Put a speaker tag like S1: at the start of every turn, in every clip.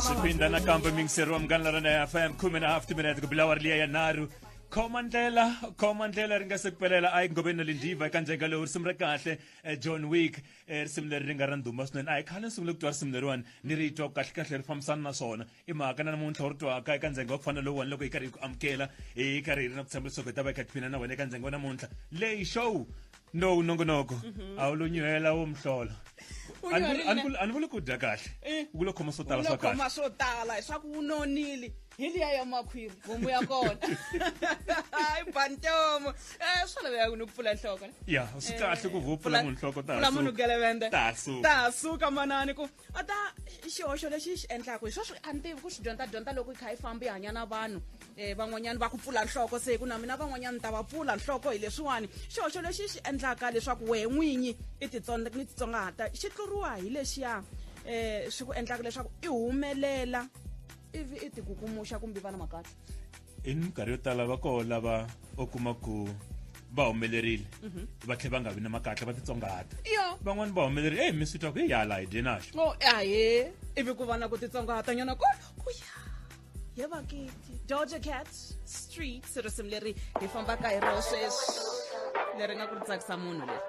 S1: zvipinda nakambe mingisero wa mungan'larana ya fm khume na hafti minete ku bilawari liya ya nharhu khoma ndlela khoma ndlela ri nga se kupelela a yi ngobeni na lindiva eka njeka lowu risimu ra kahle eh, john wick eh, risimu leri ri nga ra ndhuma swinene a hi khale ni sungule ku twa risimu leriwani ni ri twa kahlekahle ri fambisana na swona i mhaka na namuntlha u ri twaka eka ndzenge wa ku fana lowuwani loko hi karhi hi ku amukela hi karhi hi ri na ku tshemba leswaku hi ta va hi kha hi tiphina na wena eka ndzenge wa namuntlha leyi show no nongonoko mhm. a wu lo nyuhela wo mhlolo a ni vuli ku dya kahle eh. u ku lo khoma swo tala swa kahle swo tala leswaku
S2: wu nonile hi liya ya makhwiri homu ya kona hayi bantomo um eh, swa laveka ku ni ku pfula nhloko ya swi kahle
S1: ku vupfula eh, munhu nhloko tasu munhu gelevende
S2: tasu tasu
S1: ka manani ku
S2: a ta xihoxo lexi xi endlaka hi sweswi a ni tivi ku swi dyondza dyondza loko i kha i famba i hanya na vanhu um van'wanyana va ku pfula nhloko se ku na mina van'wanyana ni ta va pfula nhloko hi leswiwani xihoxo lexi xi endlaka leswaku wehe n'winyi i titsonga ni titsongahata xi tluriwa hi lexiya um swi ku endlaka leswaku i humelela ivi i tikukumuxa kumbe vana makahle i minkarhi
S1: yo tala va koho lava u kuma ku va humelerile mhm. va tlhe va nga vi na makatla va titsongahata van'wani va humelerile eyi mi swi twa ku hi hala hi dye naxo oh, ahe
S2: ivi ku vana ku titsongahata nyana kolo ku ya ye vakiti doja cat street risimu leri hi fambaka hi roho sweswi leri nga ku ri tsakisa munhu leri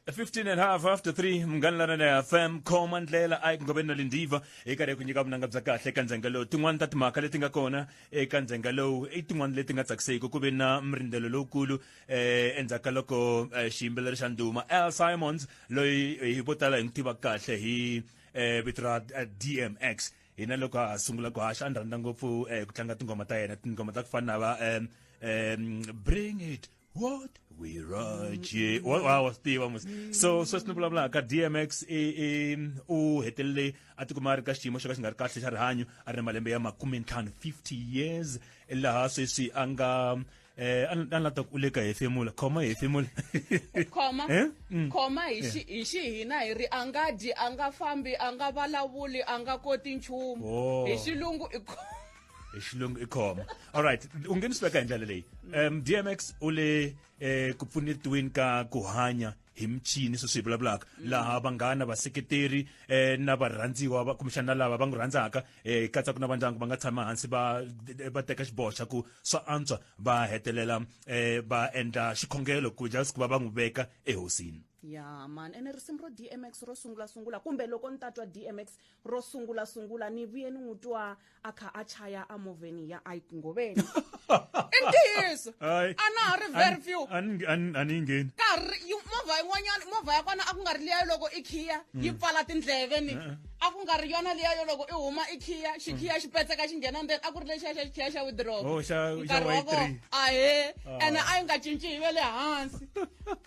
S2: 15 and half
S1: after 3 mngani lana na fm khoma ndlela ayi ku ngobeni na lindiva hi karhi ku nyika vunanga bya kahle eka ndzhenga lowu tin'wani ta timhaka leti nga kona eka ndzhenga lowu i tin'wani leti nga tsakiseki ku ve na mrindzelo lowukulu um eh, endzhaku ka loko eh, xiyimbeleri xa nduma al simons loyi eh, hi vo tala hi n'wi tiva kahle hi um vito ra dmx hina loko a sungula ku haxa a ni rhandza ngopfu um ku tlanga tinghoma ta yena tinghoma ta ku fana na va um bring it What we roje wa wa wa swi tiva musi so sweswi ni vulavula ka DMX e e u hetelele a tikuma a ri ka xiyimo xo ka xi nga ri kahle xa rihanyo a ri na malembe ya makume ntlhanu 50 years laha sweswi a nga eh a ni a ni lava ku u le ka hefemula khoma hefemula khoma Eh? Mm. khoma
S2: hi xi- hi xihina hi ri a nga dyi a nga fambi a nga vulavuli a nga koti nchumu Oh. hi xilungu i kho-
S1: xilungu i khoma alright u nghenisweka hi ndlela leyi um dmx u le um ku pfunetiweni ka ku hanya hi michini sweswi hi vulavulaka mm. laha vanghana vaseketeri um na varhandziwa kumbexana na lava va n'wi rhandzaka um katsaka na vandyangu va nga tshama hansi va va teka xiboho xa ku swa antswa va hetelela um va endla xikhongelo ku just ku va va n'wi veka ehosini ya man ene
S2: risimu ro dmx ro sungulasungula kumbe loko ni ta twa dmx ro sungula sungula ni vuye ni n'wi twa a kha a chaya amovheni ya ike ngoveni i ntiyiso a na ha ri very few a ni yi ngheni
S1: karhi movha
S2: yin'wanyana movha ya kona a ku nga ri liya loko i khiya hmm. yi pfala tindleve ni eh, eh. a ku nga ri yona liya yo loko i huma i khiya xikhiya hmm. xi petseka xi nghena ndzeni a ku ri lexiya xa xikhiya xa widrop oh, nkarhi wa
S1: kona ahe ah. ene
S2: a yi nga cinci yi ve le hansi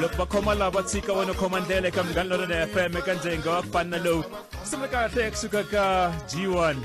S2: loko va khoma lava
S1: tshika wena khoma ndlela eka munghana lonene fm eka ndzenge wa ku fana na lowu ku sungula kahle kusuka ka g1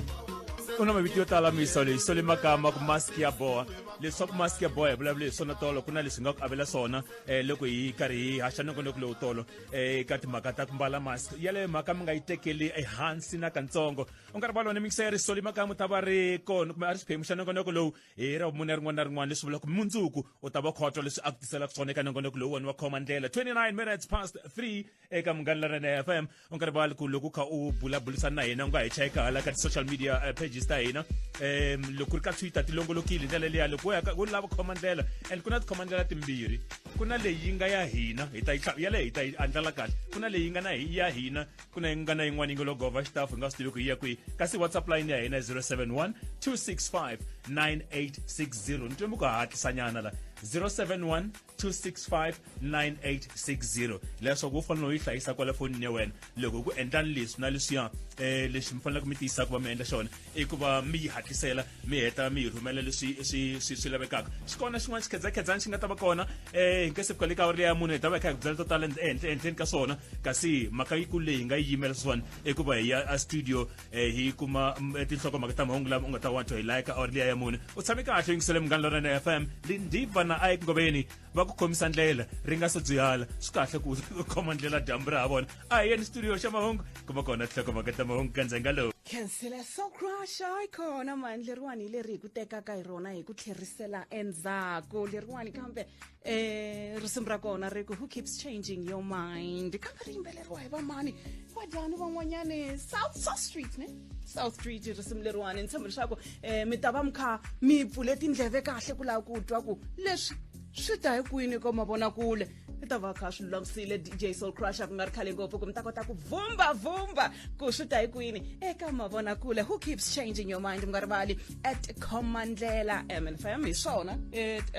S1: u na mavito yo tala miso leyi sole makama ku mask ya boha leswaku mask ya boha hi vulavule hi swona tolo ku na leswi nga ku avela swona um loko hi karhi hi haxa nongonoko lowu tolo eh, eka timhaka ta ku mbala mask yaleyo mhaka mi nga yi tekeli ehansi na katsongo u nga ri valona mikisa ya ri sole makama ta va ri kona kumbe a ri xiphemu xa nongonoko lowu hi ra vumune rin'wana na rin'wana leswi vulaka mundzuku u ta va khotwa leswi a ku tiselaka swona eka nongonoko lowu wona wa khoma ndlela 29 minutes past 3 eka munghana laranene f m u nga rivali ku loko u kha u bulabulisana na hina u nga hi cheka hala ka ti-social media eh, pages ta hina um loko ku ri ka twitter ti longolokile hi ndlela leya loko u lava khoma ndlela and ku na tikhoma ndlela timbirhi ku na leyi nga ya hina hi ta yi yaleyo hi ta yi andlala kahle ku na leyi nga na ya hina ku na yingana yin'wana yi nge logova xitafu hi nga swi tivi ku yi ya kwihi kasi whatsapp line ya hina 071 265 9860 ni twe mi ku hatlisanyana la 071 265 9860 leswaku u fanele u yi hlayisa kwale fonini ya wena loko ku endlani leswi na leswiya um lexi mi faneleke mi tiyisaka va mi endla xona i ku va mi yi hatlisela mi heta mi hi rhumela leswi swi swi swi lavekaka xi kona xin'wana xikhedzakhedzana xi nga ta va kona um hi nge se fika le ka awara leya mune hi ta va hi kha hi ku byela to tala ehenhla ehenhleni ka swona kasi mhaka yikulu leyi hi nga yi yimela swona i ku va hi ya a studio um hi kuma tinhlokomhaka ta mahungu lama u nga ta wantswa hi laya ka awara leya ya mune u tshame kahle yingisele munghana lorana f m lindiva na a eku ngoveni va ku khomisa ndlela ri nga se dzuyala swi kahle ku khoma ndlela dyambu ra ha vona a hi yeni studio xa mahungu kuma kona tlhokomaka ta mahungu ka ndzenga lowu khansela
S2: sokrasha yi khona mani leriwani hi leri hi ku tekaka hi rona hi ku tlherisela endzhaku leriwani kambe um risimu ra kona ri ku who keeps changing your mind kambe ri yimbeleriwa hi vamani vadyani van'wanyani south south street ne south street risimu leriwani ni tshemba leswaku um mi ta va mi kha mi pfule tindleve kahle ku lava ku twa ku leswi swi ta hi kwini ko mavonakule i ta va kha swi lulamisile dj soul crusher ku nga ri khale ngopfu ku mi ta kota ku vumba vumba ku swi ta hi kwini eka mavonakule who keeps changing your mind mi nga rivali at khomandlela mnfm hi swona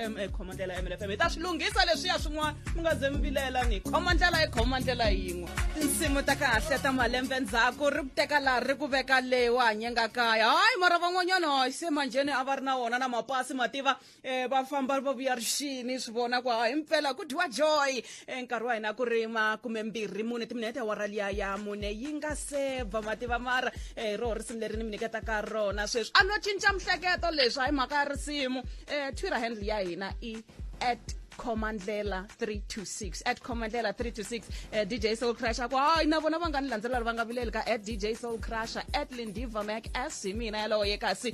S2: um khomandlela mnfm hi ta swi lunghisa leswiya swin'wana mi nga ze mi vilela ni khomandlela i khomandlela yin'we tinsimu ta kahle ta malembe ndzhaku ri ku teka laha ri ku veka leyi wa hanyengakaya hayi mara van'wanyana hayi se manjheni a va ri na wona na mapasi mativa um va famba va vuya rixini swi vona ku hi mpela ku dyiwa joy um nkarhi wa hina ku rima kumbe mbirhi mune timinete ya wara liya ya mune yi nga se ba mativa mara um hi roho risimu leri ni mi nyiketaka rona sweswi a no cinca mihleketo leswi hayi mhaka ya risimu um twitter handle ya hina i at comandlela 326 at comandlela 326 uh, eh, dj soul crusher ku hayi na vona va nga ni landzelela va nga vileli ka at dj soul crusher at lindiva mac as hi mina yaloye kasi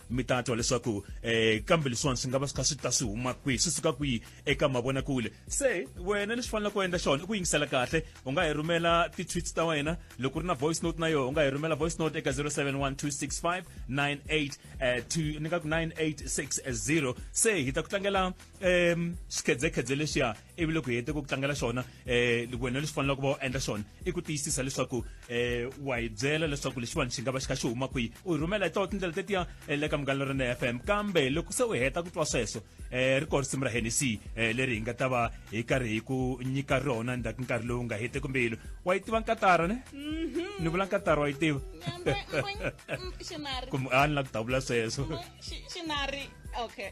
S1: mi ta twa leswaku um eh, kambe leswiwani swi nga va swi kha swi ta swi huma kwihi swi suka kwihi eka mavonakule se wena lexi faneleke u endla xona i ku yingisela kahle u nga hi rhumela ti-tweets ta wena loko ri na voice note na yona u nga hi rhumela voice note eka 071265 98 ni nga ku 9860 se hi ta ku tlangela um xikhedzekhedze lexiya ivi loko hete ku tlangela xona eh wena leswi faneleke va endla xona i ku tiyisisa leswaku eh wa hi byela leswaku lexiwani xi nga va xi kha xi huma kwihi u hi rhumela hi tona tindlela tetiya eh, le ka munghana lorene f m kambe loko se u heta ku twa sweswo eh ri kona risimu ra hennessy eh, leri hi nga ta va hi karhi hi ku nyika rona ndzhaku nkarhi lowu nga hete kumbe yilo wa yi tiva nkatara ne mhm. ni vula nkatara wa yi tiva
S2: kumbe a ni la ku ta vula
S1: sweswo xinari
S2: okay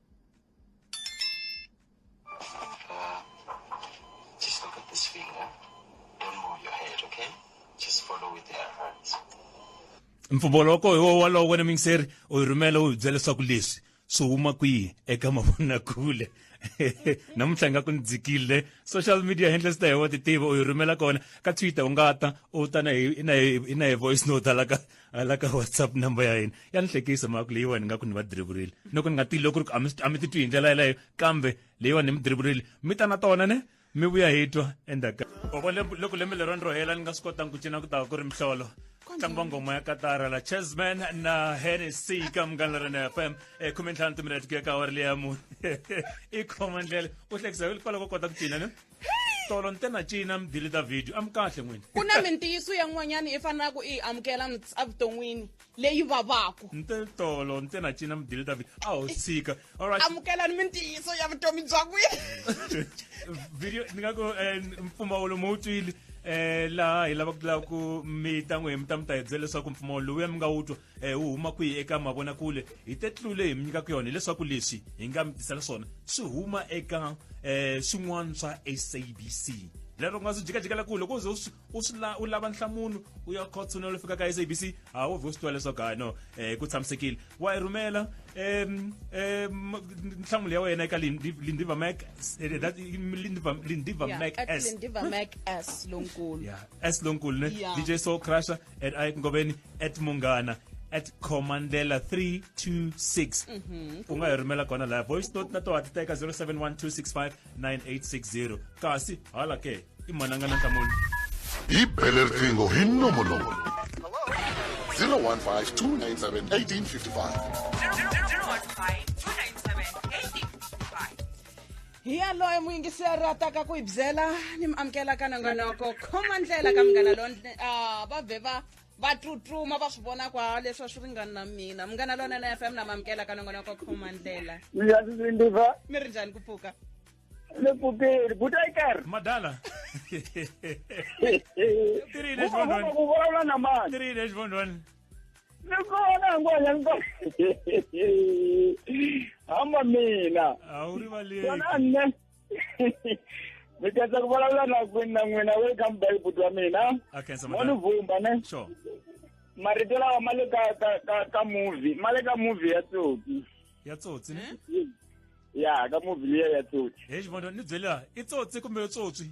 S1: mpfumaloko hi wo wolowo wena mingiseri u yi rhumela u hi byela leswaku leswi swi huma kwihi eka mavonakule namuntlha nga ku ni dzikile social media handles ta hi wa ti tiva u yi rhumela kona ka twitter u nga ta u ta na hi na hi na hi voice note hala ka a la ka whatsapp number ya yena ya ni hlekisa mhaka leyiwani ni nga ku ni va driburile ni ku ni nga tivi loko ri ku a mi titwi hi ndlela yeleyo kambe leyiwani ni mi driburile mi ta na tona ne mi vuya hi twa endzhaku boko loko lembe lero ni ro hela ni nga swi kotangi ku cina ku ta ku ri mihlolo ntlangu wa ngoma ya katara la chessman na hennessy ka munghana lera na fm e khume ntlhanu timinete ku ya ka awari leya mune i khoma ndlela u hlekisa hikwalaho ko kota ku cina ne tolo ntena cina mi deleta video a mi kahle n'wini ku na mintiyiso
S2: yan'wanyana i fanelaka i yi amukela evuton'wini leyi vavaka nte tolo ntena
S1: cina mi deleta video a ho tshika alright amukelani mintiyiso
S2: ya vutomi bya n'wina
S1: video ni nga ku eh, mpfumawulo mo wu twile eh laha hi lava ku lava ku mi ta n'wi mi ta mi ta hi byela leswaku mpfumawulo lowuya mi nga wu twa e wu huma kwihi eka mavonakule hi te tlule hi mi nyikaka yona hileswaku leswi hi nga mi tisela swona swi huma eka um swin'wana swa sabc lero nga swi jikajikela ku loko uze u swi la u lava nhlamulo u ya khotsona lo fika ka SABC a wo vhe u swi twa leswaku hayi no eh ku tshamisekile wa yi rhumela em em nhlamulo ya wena eka Lindiva Mac eh, that Lindiva Lindiva Mac S Lindiva Mac
S2: S lonkulu
S1: yeah S lonkulu ne DJ Soul Crusher at a ku ngoveni at munghana at commandela 326 mhm. u nga hi rhumela kona laha voice note na toha ti teka 0712659860 kasi hala ke i mananga na nhlamulo hi bele
S3: riqingho hi nongonoko 015 297
S2: 1855 hi yaloye muyingiseri a taka ku hi byela ni mi amukela ka nongonoko khoma ndlela ka munghana lo ah, va vhe va va tsutsuma va swi vona kwa leswi a swi ringani na mina munghana lonene f m na mi amukela ka nongonoko khoma ndlela ndiyasisindiva
S4: mi ri njhani ku
S2: pfuka ni
S4: pfukeli butaikar madala
S1: tirile xivondwani ku vulavula
S4: na
S1: mani
S4: tirile xivondwani
S1: ni
S4: kona hinkwanya hamba mina a wu rivaleki
S1: kona nne
S4: mi khensa ku vulavula na kwini na n'wina welcome back buti wa mina a khensa mo ni madam
S1: vumba ne
S4: sure
S1: marito
S4: lawa ma le ka ka ka ka movie ma le ka movie ya tsotsi ya tsotsi ne
S1: ya
S4: ka movie liya ya tsotsi he xivondo ni byela
S1: i tsotsi kumbe yo tsotswi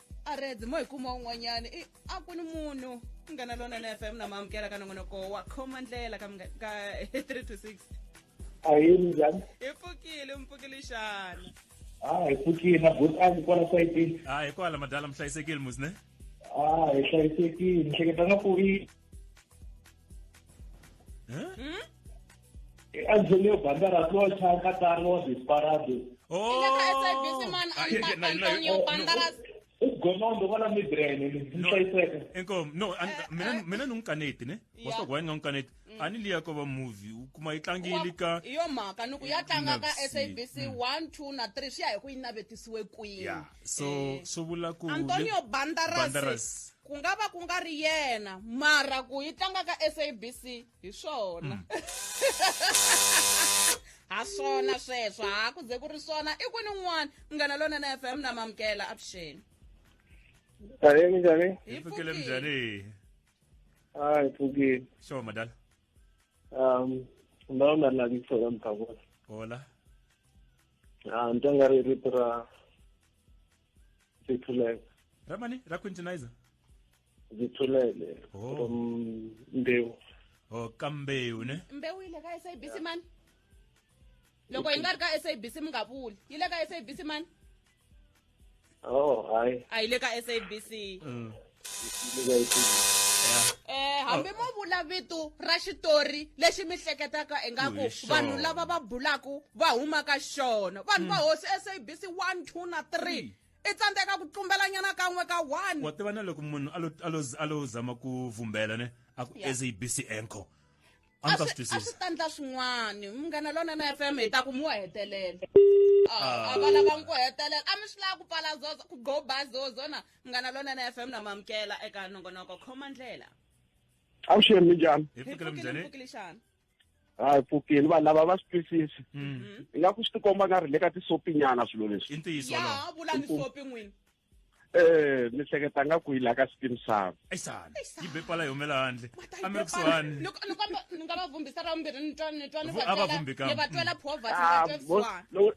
S2: a reds mo hi kuma un'wanyana i a ku ni munhu munghana lonene fm na maamukela ka nongonoko wa khoma ndlela ka mga- ka 3 to 6 ahee
S5: minjhani hi pfukile mi
S2: pfukile xana a hi
S5: pfukile na bot a ni kwala sayitini hayi kwala madala mi
S1: hlayisekile musne a hi
S5: hlayisekile ni hleketa nga ku i endzeni yo banda ra tlocha ka tsari wa disparado ugonondo wala
S2: midraine
S5: nihlayiseka enkom no
S1: mina ni n'wi kaneti ne wasoko wayini nga n'wi kaneti mm. a ni liya ko va movie u kuma yi tlangile ka yo mhaka ni ku ya
S2: tlanga ka sabc mm. one
S1: two
S2: na three swi ya hi ku yi navetisiwe kwini so eh.
S1: swi vula ku antonio
S2: bandaras
S1: ku nga
S2: va ku nga ri yena mara ku yi tlanga ka sabc hi swona mm. ha swona sweswo ha ku ze ku ri swona i kwini n'wana munghana lona na fm na mamukela avuxeni
S4: njhani minjhani hi pfukile minjhani
S1: a
S4: hi pfukile sure madala
S1: um
S4: ndhawu nga lavi ku sola mphakula hola a ni tanga ri rito ra zithulele ramani ra
S1: quintinizer zithulele
S4: Oh. from mbewu o ka
S1: mbewu ne mbewu yi le ka sabc
S2: mani loko yi nga ri ka sabc mi nga vuli yi le ka sabc mani oh
S4: hayi a yi le ka sabc
S2: Mm. eh hambi mo vula vito ra xitori lexi mi hleketaka ingaku vanhu lava va
S1: bulaku
S2: va humaka xona vanhu va hmm. hosi sabc 1 2 na 3 hmm. i tsandzeka ku tlumbelanyana kan'we ka one wa tiva na loko munhu
S1: a lo zama ku vumbela ne a ku sabc anchor a ndzi ta swi
S2: twisisa a swi ta ndla swin'wana munghana lona na f m hi ta ku mu wa hetelela a ah, ah. va lava n'wi ku hetelela a mi swi lava ku pfala zozo ku go ba zozo na Ngana Lonene FM na mamkela eka nongonoko khoma ndlela. Awushiyeni
S4: minjani? Hi pfukile mnjani? Pfukile
S1: xana?
S2: hayi
S4: pfukile vanhu lava va swi twisisi mm-hmm. i nga ku swi tikomba nga ri le ka tisopinyana swilo leswi i ntiyiso ya vulani
S1: sopi n'wini
S2: eh
S4: ni hleketa nga ku yi la ka steam sub ayisana yi be
S1: pala yi humela handle a mi ri kusuhani loko ni nga va
S2: vumbisa ra vumbirhi ni twa ni twa ni va twela ni va
S1: twela poverty ni va
S2: twa vusiwana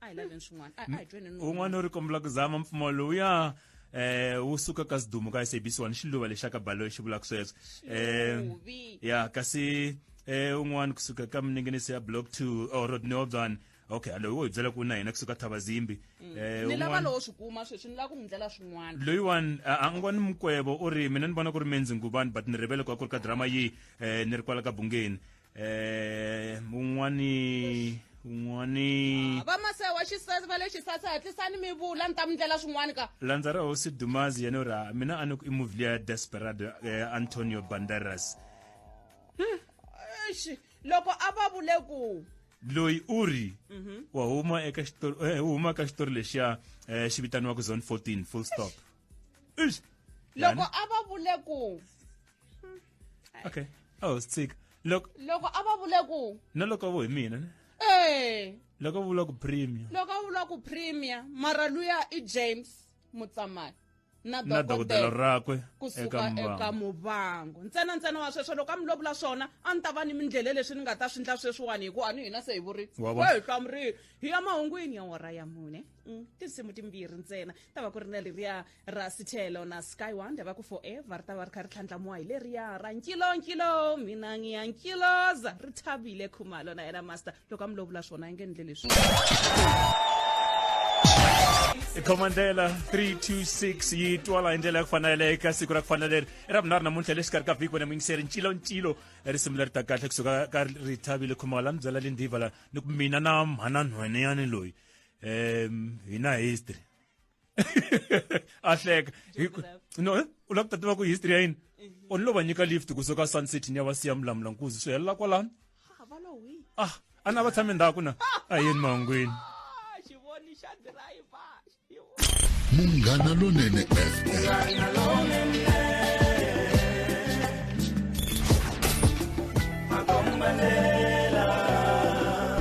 S2: a hi laveni swin'wana a a hi tweni nuna. un'wana u ri kombela ku
S1: zama mpfumo lowuya eh wu suka ka sidumu ka sabc one xiluva lexa ka baloyi xi vulaka sweswo eh Xiluvi.
S2: ya kasi
S1: eh un'wana kusuka ka minengenisi ya block 2 or road neobzan okay alo wo hi byela ku na hina kusuka thava zimbi eh ni lava un'wana-
S2: lowo swi kuma sweswi ni lava ku n'wi ndlela swin'wana loyiwani a a
S1: ngwani mukwebo u ri mina ni vona ku ri menzi ngubani but ni rivele ku a ku ri ka drama yi um ni ri kwala ka bungeni eh mun'wani un'wani vamase wa xisesi
S2: va le xisasi hatlisani mi vula ni ta mi ndlela swin'wani ka landza ra hosi dumazi
S1: yena ura mina a ni ku i movie leya desperado eh, antonio banderas Eish,
S2: loko a va vule ku loyi u
S1: ri wa huma eka xitori eh, u huma ka xitori lexiya eh, xi vitaniwaka zone 14
S2: full
S1: stop Eish,
S2: loko yani,
S1: a va vule
S2: ku
S1: hmm. okay a ho swi tshika loko loko a va vule
S2: ku na loko vo hi mina
S1: ne ee loko a vula ku premier loko a vula ku
S2: premier mara luya i james mutsamani na dokodela
S1: rakwe kusuka eka
S2: muvango ntsena ntsena wa sweswo loko a mi lovula swona a ni ta va ni mindlela leswi ni nga ta swi ndla sweswiwani hikuva ni hina se hi vuri wa hi hlamurili hi ya mahungwini ya wara ya mune mm, tinsimu timbirhi ntsena ta va ku ri na leriya ra sithelo na sky wonder va ku forever ri ta va ri kha ri tlhandlamuwa hi leriya ra nkilonkilo mina ngiya nkiloza ri thabile khumalo na yena master loko a mi lovula swona a yi nge ndle leswi
S1: khomandlela 326 yi twala hi ndlela ya ku fanela eka siku ra ku fana leri i ra vunharhu namuntlha le xikarhi ka vhiki wena muyingiseri nciloncilo risimu leri ta kahle kusuka ka ri thabile khumalo la ni byela le ndiva la ni ku mina na mhana nhweneyani loyi um hi na history a hleka no eh? u lava ku ta tiva ku history ya yini eh. u ni lo va nyika lift kusuka sun city ni ya va siya mulamula nkuzi swi helela kwalano ah a ni a va tshame ndhaku na a yini mahungwini
S3: munghana lonene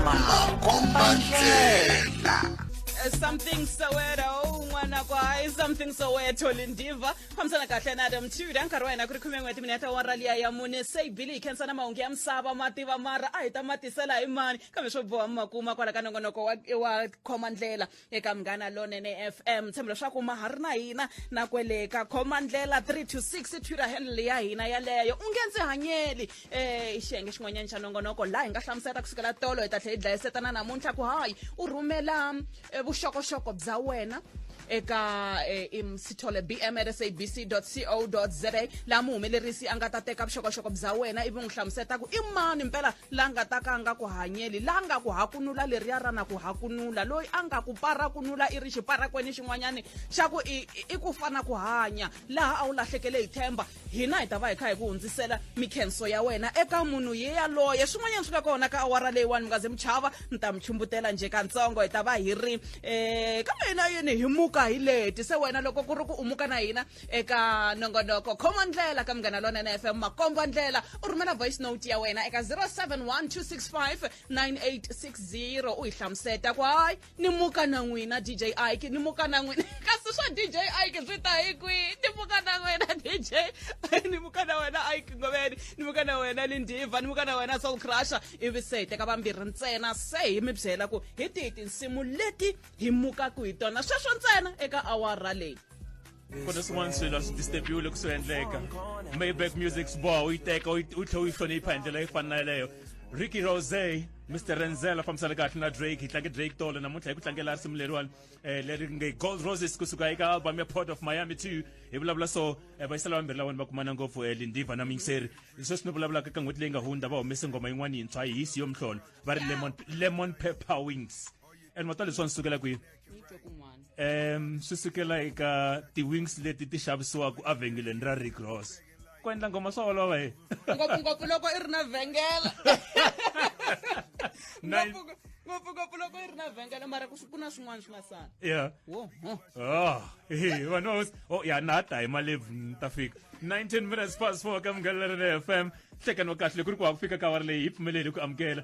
S3: makombandlela Eh, something
S2: soweto un'wana kwa hayi something soweto lindiva fambisana kahle na adam tuda nkarhi wa hina ku ri khume n'we timinete wa raliya ya mune se bili yi khensana mahungu ya misava ma tiva mara a hi ta ma tisela hi mani kambe swo boha mi ma kuma kwala ka nongonoko wa wa khoma ndlela eka munghana lonene f m tshembo leswaku ma ha ri na hina na kwele ka khoma ndlela 3 to 6 twitter handle ya hina yaleyo u nge ndzi hanyeli eh xiyenge xin'wanyana xa nongonoko laha hi nga hlamusela ku sukela tolo hi ta tlhe hi dlayisetana namuntlha ku hayi u rhumela eh, vuxokoxoko bya wena eka eh, im- sithole bm at sabc co za laha muhumelerisi a nga ta teka vuxokoxoko bya wena ivi n'wi hlamuseta ku i mani mpela la nga ta ka a nga ku hanyeli la nga ku hakunula leriya ra na ku hakunula loyi a nga ku parakunula i ri xiparakweni xin'wanyani xa ku i, i- i ku fana ku hanya laha a wu lahlekele hi themba hina hi ta va hi kha hi ku hundzisela mikhenso ya wena eka munhu ye yaloye swin'wanyana swi nga kona ka awara leyiwani mi nga ze mi chava ni ta mi chumbutela nje katsongo hi ta va hi ri um kambe hina yini hi muka hi leti se wena loko ku ri ku umuka na hina eka nongonoko khoma ndlela ka munghana lonene f m makomba ndlela u rhumela voice note ya wena eka 071 265 9860 u hi hlamuseta ku hayi ni muka na n'wina dj ike ni muka na n'wina kasi swa dj ike swi ta hi kwihi ni muka na n'wina dj ni muka na wena ike ngoveni ni muka na wena lindiva ni muka na wena soul crusher ivi se hi teka vambirhi ntsena se hi mi byela ku hi tihi tinsimu leti hi mukaku hi tona sweswo ntsena eka awara leyi ku na swin'wana
S1: swilo a swi disturbiwe loko swi endleka mayback music sboa u yi teka u yi tlhe u yi hlonipha hi ndlela yi fana na yeleyo ricky rose mr renzel a fambisana kahle na drake hi tlange drake tolo namuntlha hi ku tlangela risimu leriwani um leri nge gold roses kusuka eka album ya port of miami two hi vulavula so um vayisela vambirhi lawani va kumana ngopfu um lindiva na miyingiseri sweswi ni vulavulaka ka n'hweti leyi nga hundza va humese nghoma yin'wana yintshwa hi hisi yo mhlolo va ri lemon, lemon pepper wings and matswale swa ni sukela kwihi um swi sukela eka ti-wings leti ti xavisiwaka evhengeleni ra rigros ku endla ngoma swa olova he ngopfungopfu loko i
S2: ri na vhengela ngopfungopfu loko i ri na vhengela mara ku na swin'wana swi
S1: nga sala ya ah, vanhu o oh, ya na ha ta hi malebvu ni ta fika 19 minutes past 4 ka munghana lerene fm nhlekani wa kahle ku ri ku wa ku fika ka wari leyi hi pfumeleli ku amukela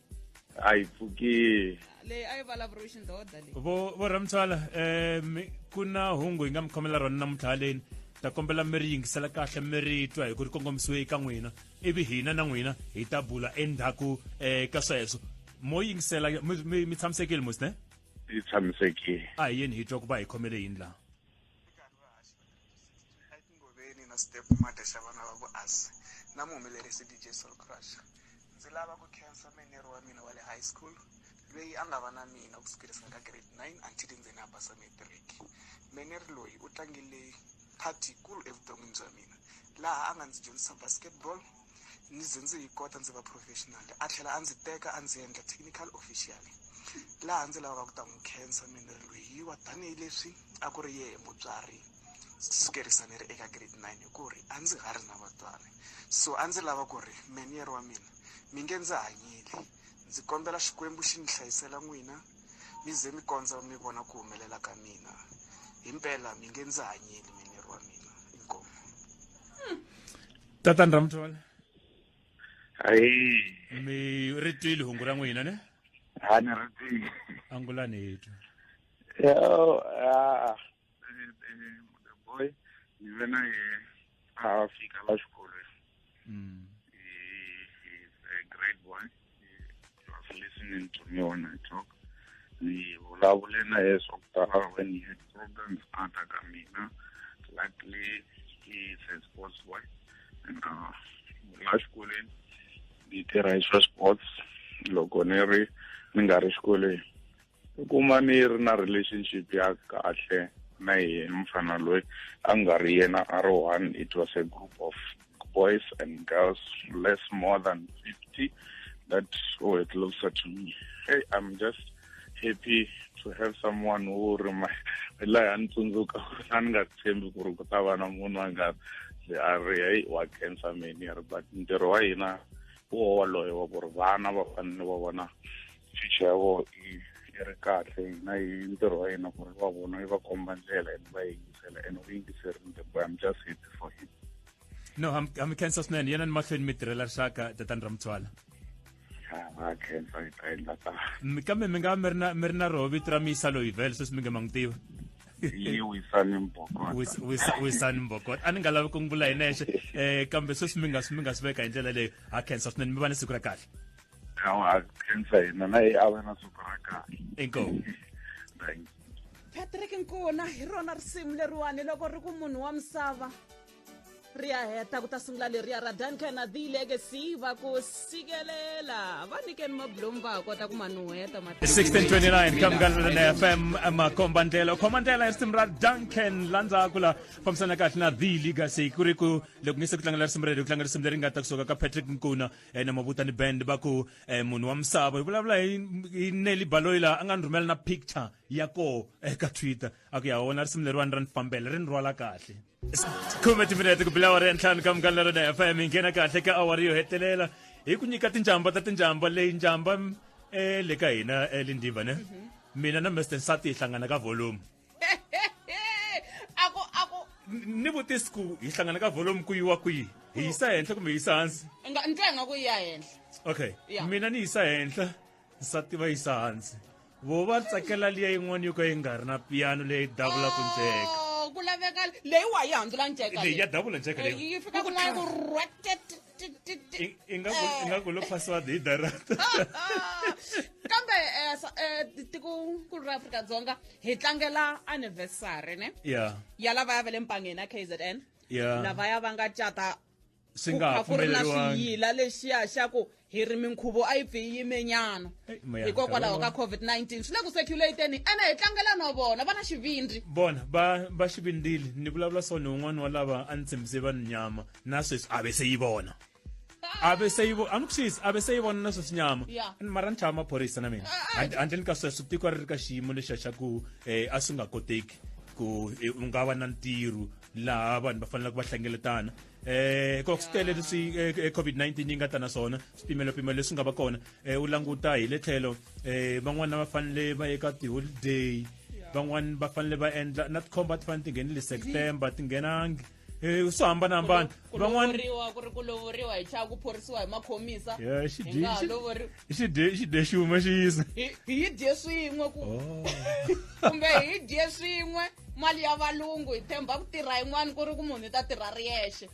S2: a
S4: yi pfuki leyi a yi vulavuriwi
S2: xindhodha leyi vo vo ramtswala
S1: um ku na hungu hi nga mi khomela rona namuntlha haleni ta kombela mi ri yingisela kahle mi ri twa hi ku ri kongomisiwe eka n'wina ivi hina na n'wina hi ta bula endzhaku um ka sweswo mo yingisela mi- mi mi tshamisekile mosne yi tshamisekile
S4: a hi yeni hi twa ku va
S1: hi khomele yini laha
S6: etingoveni na step mate xa vana va vuasi na muhumelerisi dj soul crush ndzi lava ku khensa menero wa mina wa le high school loyi a nga va na mina ku sukerisana ka grade 9 until ndzeni a basa matric meneri loyi u tlangile part yikulu evuton'wini bya mina laha a nga ndzi dyondzisa basketball ni ze ndzi yi kota ndzi va professional a tlhela a ndzi teka a ndzi endla technical official laha ndzi lavaka ku ta n'wi khensa mina ri loyiwa tanihileswi a ku ri yehe mutswari sukerisa ni ri eka grade nine hi ku ri a ndzi ha ri na vatswari so a ndzi lava ku ri meniere wa mina mi nge ndzi hanyile ndzi kombela xikwembu xi mi hlayisela n'wina mi ze mi kondza mi vona ku humelela ka mina hi mpela mi nge ndzi hanyile meniere wa mina inkomu
S1: tata ni ra muthole hayi
S7: mi ri twile
S1: hungu ra n'wina ne ha ni ri
S7: tivi angulani hi
S1: twa yo ah
S7: the boy ni ve na ye a fika la xikolweni Mm. hi hi grade one listening to me when I talk. Ni vulavule na yena swa ku tala when he had problems under ka mina. Luckily, he is a sports boy. And uh, la xikolweni ni tirha hi swa sports loko ni ri ni nga ri xikolweni. u kuma ni ri na relationship ya kahle na yena mfana loyi a nga ri yena a ri one it was a group of boys and girls less more than 50 that were oh, closer to me hey i'm just happy to have someone who ri laha a ni tsundzuka a ni nga tshembi ku ri ku ta va na munhu a nga a ri heyi wa cancer meni a ri but ntirho wa hina wo woloye wa ku ri vana va fanele va vona ficha ya vona yi yi ri kahle hina hi ntirho wa yena ku ri va vona yi va komba ndlela and va yingisela and u yingiserile ndembo i'm just happy for him no
S1: ha mi khensa swinene yena ni mahlweni mi tirhela rixaka tatani ra mutswala va
S7: khensa hi ta endla ta kambe mi nga mi
S1: ri na mi ri na roho vito ra miyisa loyi vele sweswi mi nge ma n'wi tiva yi
S7: wisani mbokota wisani
S1: mbokota a ni nga lavi ku n'wi vula hi nexe um kambe sweswi mi nga mi nga swi veka hi ndlela leyo ha khensa swinene mi va ni siku ra kahle khawa
S7: khensa yena na ye a va na siku ra kahle inkomu
S1: thank you
S2: patrick nkuna hi rona risimu leriwani loko ri ku munhu wa misava ri ya heta ku ta sungula leriya ra duncan the legacy va ku sikelela va nikeni mablomu va ha kota ku manuheta 1629
S1: kamkanana fm makomba ndlela khoma ndlela ya risimu ra duncan la ndzhaku la fambisana kahle na the legacy ku ri ku loko nge se ku tlangela risimu rero ku tlanga risimu leri nga ta kusuka ka patrick nkuna ene mabutani band va ku eh, munhu wa misava hi vulavula hi hi neli baloyi laha a nga ni rhumela na picture ya koho eka twitter a ku ya wona risimu leriwani ra ni fambela ri ni rhwala kahle khume timinete ku bila awara ya ntlhanu ka mukani lerona fm hi nghena kahle ka awara yo hetelela hi ku nyika tinjamba ta tinjamba leyi njamba eh, le ka hina eh, lindiva ne mina na mester nsati hi hlangana ka volume
S2: ako ako ni vutisi
S1: ku hi hlangana ka volume ku yiwa kwihi hi yisa henhla kumbe hi yisa hansi nga ndzi nga ku ya
S2: henhla okay Yeah. mina
S1: ni yisa henhla nsati va yisa hansi vo va tsakela liya yin'wana yo ka yi nga ri na piyano leyi davula ku nceka Oh, ku laveka
S2: leyi wa yi handzula nceka leyi ya davula nceka leyi
S1: yi fika kun'wana ku
S2: rhwatete i
S1: nga i nga ku lo password hi direct
S2: kambe eh, eh, tikonkulu ra afrika dzonga hi tlangela anniversary ne yeah. ya lava ya ve le mpangeni ya kzn yeah. lava ya va nga cata swi nga ha
S1: pfumeleriwangila
S2: lexiya xa ku hi ri minkhuvo a yi pfi yi yimenyana hikokwalaho ka covid-19 swi le ku seculateni ene hi tlangela no vona va na xivindzi vona va
S1: va xivindili ni vulavula so ni un'wana wa lava a ni tshembise vanhu nyama nases abe seyibona abe seyibo anikusizi abe seyibona naso sinyama Yeah. And mara ni chava maphorisa na mina Ah, ah. And- handleni ka sweswo tiko ri ri ka xiyimo lexa xa ku eh, a swi nga koteki ku eh, u nga va na ntirho laha vanhu va faneleke va hlengeletana um ko swi tele leswi eh, eh, covid-19 yi nga ta na swona swipimelo-pimelo leswi nga va kona um u languta hi le tlhelo um van'wana va fanele va ye ka tiholiday van'wana va fanele va endla na tikhomba ti fanele ti nghenile september ti nghenangi Eh, u swi hambanahambana van'wana ku
S2: ri ku lovoriwa hi chava ku phorisiwa hi makhomisa eh,
S1: i xidye xin'we xi yisa hi dye
S2: swin'we ku oh. kumbe hi dye swin'we mali ya valungu hi themba ku tirha yin'wana ku ri ku munhu i ta tirha ri yexe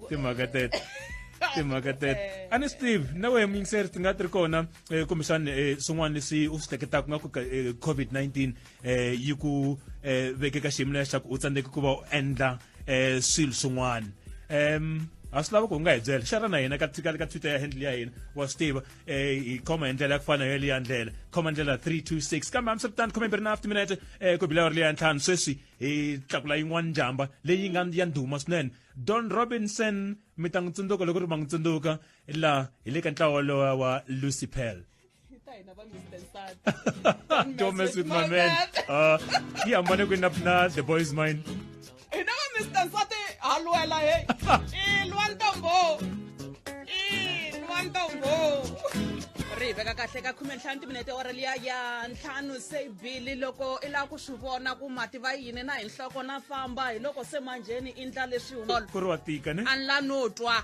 S2: timhaka
S1: tete timhaka tete eh. a ni swi tivi na wehe muyingiseri ti nga ti ri kona um kumbexani um swin'wana leswi u swi hleketaka nga ku covid-19 eh yi ku eh veke ka xiyimo leswaku u tsandzeke ku va u endla eh swilo swin'wana em a swi lava ku nga hi byela xana na hina ka ka ka twitter ya handle ya hina wa swi tiva eh hi khoma hi ndlela ya ku fana yo leya ndlela khoma ndlela 326 kambe hambiswiritano khome mbirhi na after minute eh ku bila ri leya ntlhanu sweswi hi tlakula yin'wana njhamba leyi nga ya ndhuma swinene don robinson mi ta n'wi tsundzuka loko ri ma n'wi tsundzuka laha hi le ka ntlawa lowa wa lucy pell Don't mess with my man. Uh, yeah, I'm gonna go up now. The boy is mine.
S2: ri veka kahle ka khume ntlhanu timinete ora liya ya ntlhanu se bili loko i lava ku swi vona ku mati va yini na hi nhloko na famba hi loko se manjheni i ndla leswi ku ri wa tika ne
S1: a ni la no twa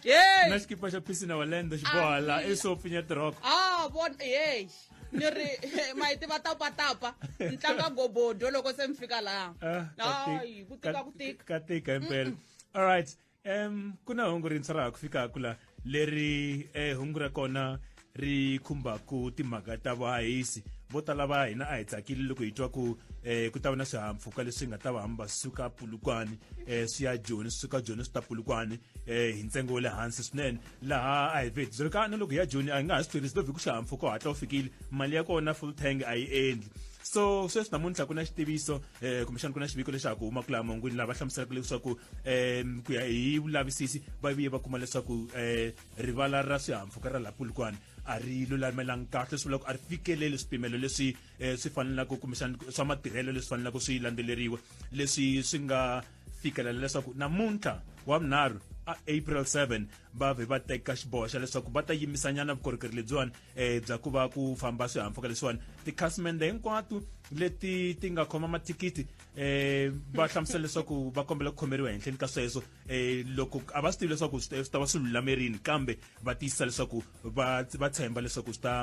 S2: Yey! na
S1: xikipa xa phisi na walendo xibohala Amina. esopfi nya tirhoko Ah, bon, yey.
S2: Ni ri ma yi tiva tapa tapa. Ni tlanga gobodo loko se mi fika laha. Ah, ka ti- Hayi, ku tika ka- ku tika. ka tika himpela
S1: all right um ku na hungu rintshwa ra ha ku fikaka la leri eh, hungu ra kona ri khumbaka timhaka ta vahahisi vo tala va hina a hi tsakile loko hi twa ku eh, ku ta va na swihahampfhuka leswi nga ta va hamba suka pulukwane eh, swi ya joni swi suka joni swi ta pulukwane eh, hi ntsengo wa le hansi swinene laha a hi vheti byi ri ka na loko hi ya joni a hi nga ha swi tirhisi lovhi ku xihahampfhuka u hatla u fikile mali ya kona full tank a yi endli so sweswi namuntlha ku na xitiviso eh kumbexana ku na xiviko lexaku huma kula mangwini lava hlamuselaka leswaku um ku ya hi vulavisisi va viye va kuma leswaku um rivala ra swihahampfhuka ra la pulukwane a ri lulamelangi kahle swi vula ku a ri fikeleli swipimelo leswi um swi fanelaka kumbexana swa matirhelo leswi fanelaka swi landzeleriwa leswi swi nga fikelela leswaku namuntlha wa vunharhu a april 7 va vhe va teka xiboho xa leswaku va ta yimisanyana vukorhokeri lebyiwani um bya ku va ku famba swihahampfhuka leswiwani tikhasimende hinkwato leti ti nga khoma mathikithi um va hlamusela leswaku va kombela ku khomeriwa henhleni ka sweswo eh loko a va swi tivi leswaku swi ta va swi lulamerini kambe va tiyisisa leswaku va va tshemba leswaku swi ta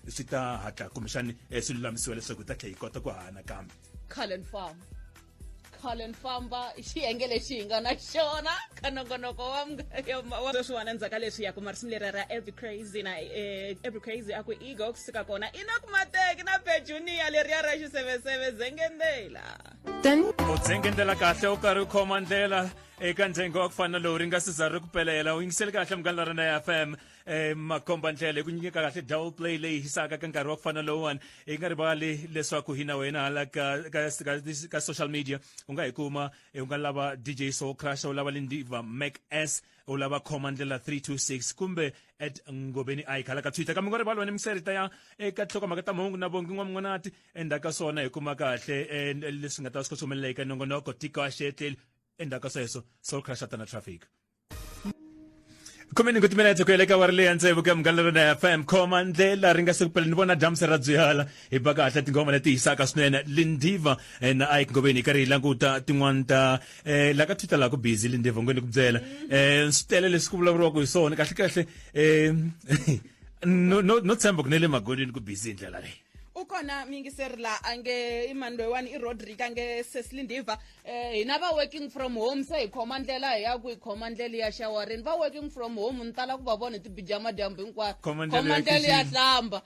S1: swi ta hatla kumbexani eh, swi lulamisiwa leswaku ta tlhela yi kota ku hana kambe cullen farm
S2: cullen famba i xiyenge lexi hi nga na xona ka nongonoko wa sweswiwana ndzhaka leswi ya kuma risimu leri ra every crazy na eh, every crazy a ku ego kusuka kona ina kumateki na bejuniya leriya ra xiseveseve zengendela Tani u
S1: dzenge ndlela kahle u karhi u khoma ndlela eka ntsengo wa ku fana lowu ri nga si za ri ku pelela u yingisele kahle munghana la rena ya f m um makhomba ndlela hi ku nyikeka kahle double play leyi hisaka ka nkarhi wa ku fana lowuwani hi nga rivali leswaku hi na wena hala ka, ka, ka, ka social media u nga hi kuma eh, u nga lava dj soul crusher u lava lindiva mac s u lava khoma ndlela 326 kumbe at ngobeni ike hala ka twitter kambe u nga rivali wena miserita ya eka nhlokomhaka ta mahungu na vongi n'wamun'wanati endzhaku ka swona hi kuma kahle um leswi nga ta swi kha swi humelela eka nongonoko tiko a xi etleli endzhaku ka sweswo soul crashata na traffic khomeni ku timinetse ku yeleka wa ri leya ntsevu ka munghana lona ya fm khoma ndlela ri nga se kupela ni vona dyambu se ra byala hi ba kahle tinghoma leti hisaka swinene lindiva eh, na ike ngoveni hi karhi hi languta tin'wani ta um la ka twitter laha ku busy lindiva ngweni ku byela um swi tele leswi ku vulavuriwaka hi swona kahle kahle um no tshemba ku ne le magonini ku busy hi ndlela leyi u kona muyingiseri
S2: la a nge i mani loyiwani i rodrick a nge seslindiva um eh, hina va working from home se hi khoma ndlela hi ya ku hi khoma ndlela ya shawarini va working from home ni tala ku va vona hi tibijama dyambu hinkwato khoma ndlela ya hlamba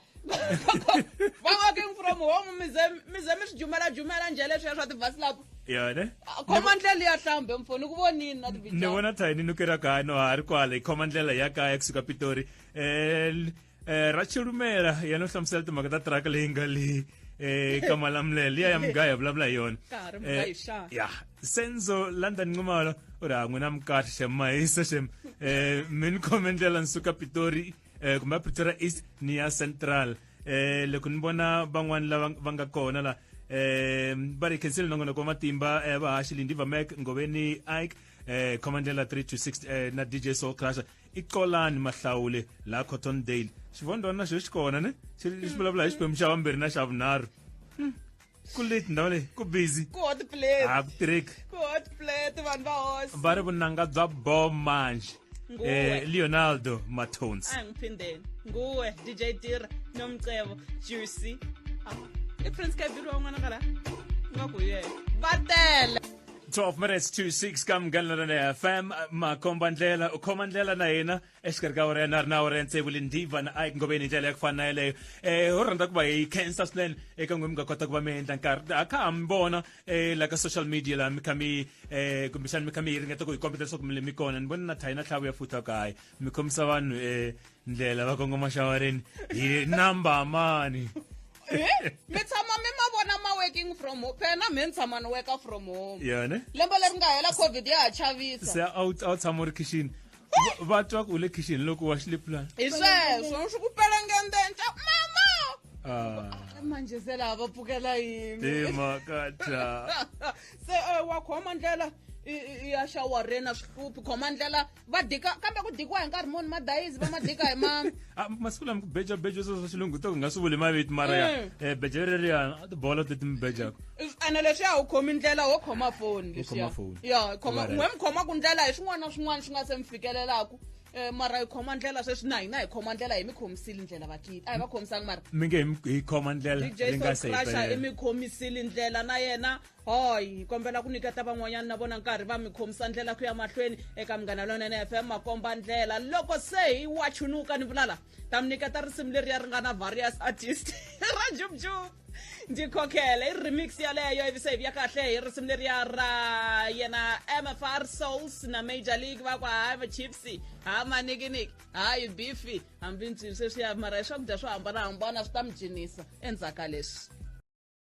S2: va working from home mize mize mi swi jumela jumela nje leswiya swa tivasilapo yone ah,
S1: khoma ndlela ya
S2: hlambe mfo ni ku vonini na tibijama ni vona thayi ni nukira
S1: kaya no ha ri kwala hi khoma ndlela ya kaya kusuka pitori um eh Rachel Lumela yena u hlamusela timhaka ta track leyi nga le eh ka malamulele liya ya mugaya ya vulavula hi yona Ka ha ri mugayo Eh, xana? ya senzo london nxumalo u ri ha n'wina mukahle xem mahisa xem eh mi ni khome ndlela ni suka pitori eh kumbe a pretoria east ni ya central eh loko ni vona van'wani lava va nga kona la eh va ri khensile nongonoko wa matimba eh vahaxi lindi vamek ngoveni ike eh khoma ndlela 3 to 6 eh na dj soul crusher i colani mahlawule laha cotton dale xivondwana na xo xi kona ne xi xi hmm. vulavula hi xiphemu xa vambirhi na xa vunharhu hmm. ku late ndhawu leyi ku busy ku hot plate a ku
S2: tirheki ku hot plate vanhu va hosi va ri vunanga bya
S1: bo manje eh leonardo matones a ngiphindeni
S2: nguwe dj tira nomcebo juicy i prince kabiri wan'wana ka la nga ku yena va tele 12 minutes
S1: to 6 ka mugandlana na fm makomba ndlela u khoma ndlela na hina exikarhi ka wena na ri na wena ntsevu le ndiva na ike ngobeni hi ndlela ya ku fana na yeleyo um ho rhandza ku va hi khensa swinene eka n'we mi nga kota ku va mi endla nkarhi a kha ha mi vona um la ka social media laha mi kha mi um kumbexani mi kha mi ringeta ku hi kombeta leswaku mi le mi kona ni voni na thayi na tlhavu ya futa kaye mi khomisa vanhu um ndlela va kongoma xawareni hi number mani
S2: he mi tshama mi ma vona ma working from home phela na mhe ni tshama ni worka from home yone lembe leri nga
S1: hela
S2: covid ya ha chavisa se a wu a wu tshama u
S1: ri khixini Va- va twa ku u
S2: le khixini
S1: loko
S2: wa
S1: xilipulani
S2: hi sweswo
S1: swi
S2: ku
S1: pelengendenta
S2: mama
S1: Ah,
S2: manje se laha va pfukela yini timhaka ta
S1: se
S2: eh, wa khoma ndlela i- i- i ya xawarena swi hluphi khoma ndlela va dika kambe ku dikiwa hi nkarhi muni madayizi va ma dika hi ma ah, masiku lama ku beja
S1: beja sweswo xilungu to nga swi vuli maviti mara ya um mm. eh, beja reriyana a tibolo leti mi bejaka ene leswiya u
S2: khomi ndlela wo khoma foni leswiya ya khoma n'we mi khoma ku ndlela hi swin'wana na swin'wana swi nga se mi fikelelaku Eh, mara hi khoma ndlela sweswi na hina hi khoma ndlela hi mi khomisile ndlela vakiti a hi va khomisanga mara mi nge hi khoma
S1: ndlela ri nga se
S2: i mi khomisile ndlela na yena hoy hi kombela ku nyiketa van'wanyana na vona nkarhi va mi khomisa ndlela ku ya mahlweni eka munghana lonene fm makomba ndlela loko se hi wa chunuka ni vulala ta mi nyiketa risimu leri ya ri nga na various artist ra jubjub ndzi khokhela i remix yaleyo ivi se hi vuya kahle hi risimu leriya ra yena mfr souls na major league va ku hayi vachipsy ha manikiniki hayi bifi hambi ntsini sweswiya mara hi swakudya swo hambanahambana swi ta mi cinisa endzhaku ka leswi